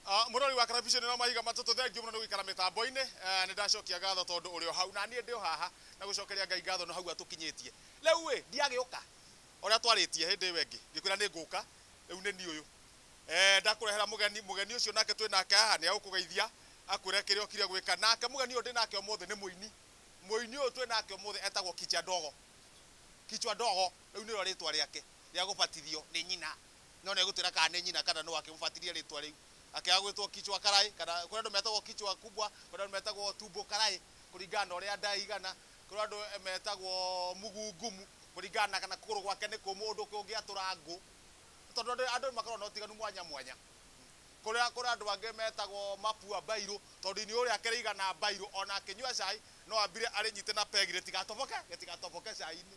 Ah, Mũrori wa karabiceni na mahiga matatũ thengiũ mũno nĩ gũikara mĩtambo-inĩ Eh, nĩ ndacokia ngatho tondũ ũrĩ o hau na niĩ ndĩ o haha na gũcokeria Ngai ngatho nĩ hau atũkinyĩtie rĩu ĩ ndiagĩũka ũrĩa twarĩtie hĩndĩ ĩyo ĩngĩ ngĩkwĩra nĩ ngũka rĩu nĩ niĩ ũyũ Eh, ndakũrehera mũgeni mũgeni ũcio nake twĩ nake haha nĩ agũkũgeithia akwĩre kĩrĩa ũkire gwĩka nake mũgeni ũyũ ndĩ nake ũmũthĩ nĩ mũini mũini ũyũ twĩ nake ũmũthĩ etagwo Kicha Ndogo kichwa ndogo rĩu nĩrĩo rĩtwa rĩake rĩa gũbatithio nĩ nyina no negũtwĩra kana nĩ nyina kana nũ akĩmũbatithia rĩtwa rĩu. Akĩaga gwĩtwo Kichwa Karai kana kũrĩ andũ metagwo Kichwa Kubwa, kũrĩ andũ metagwo Tumbo Karai kũringana na ũrĩa nda ĩigana, kũrĩ andũ metagwo Mguu Ngumu kũringana na kana kũgũrũ gwake nĩ kũmũ ũndũ kũngĩatũra ngũ. Tondũ andũ andũ nĩmakoragwo na ũtiganu mwanya mwanya. Kũrĩa kũrĩ andũ angĩ metagwo Mapua Mbairũ tondũ iniũrũ rĩake rĩigana mbairũ ona akĩnyua cai no ambire arĩnyite na peg rĩtigatoboke rĩtigatoboke cai-inĩ.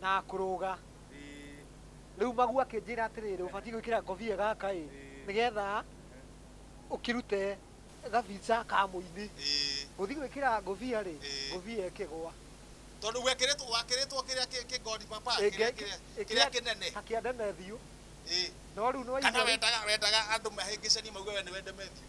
na akũrũga. Rĩu Magu akĩnjĩra atĩrĩrĩ, ũbatiĩ gwĩkĩra ngobia gaka ĩ, nĩgetha ũkĩrute gabica ka mũini. Ngũthiĩ gwĩkĩra ngobia rĩ, ngobia ĩkĩgwa. Tondũ gwekĩrĩtwo, wakĩrĩtwo kĩrĩa kĩ, kĩ God Papa, Ĩ, kĩrĩa, ngekĩ- kĩrĩa, kĩrĩa ĩkĩra kĩnene. ta kĩa Ndemethiũ. Ĩ. No rĩu nĩ Kana waigua rĩ, wendaga, wendaga andũ mahĩngĩcanie mauge we nĩwe Ndemethiũ?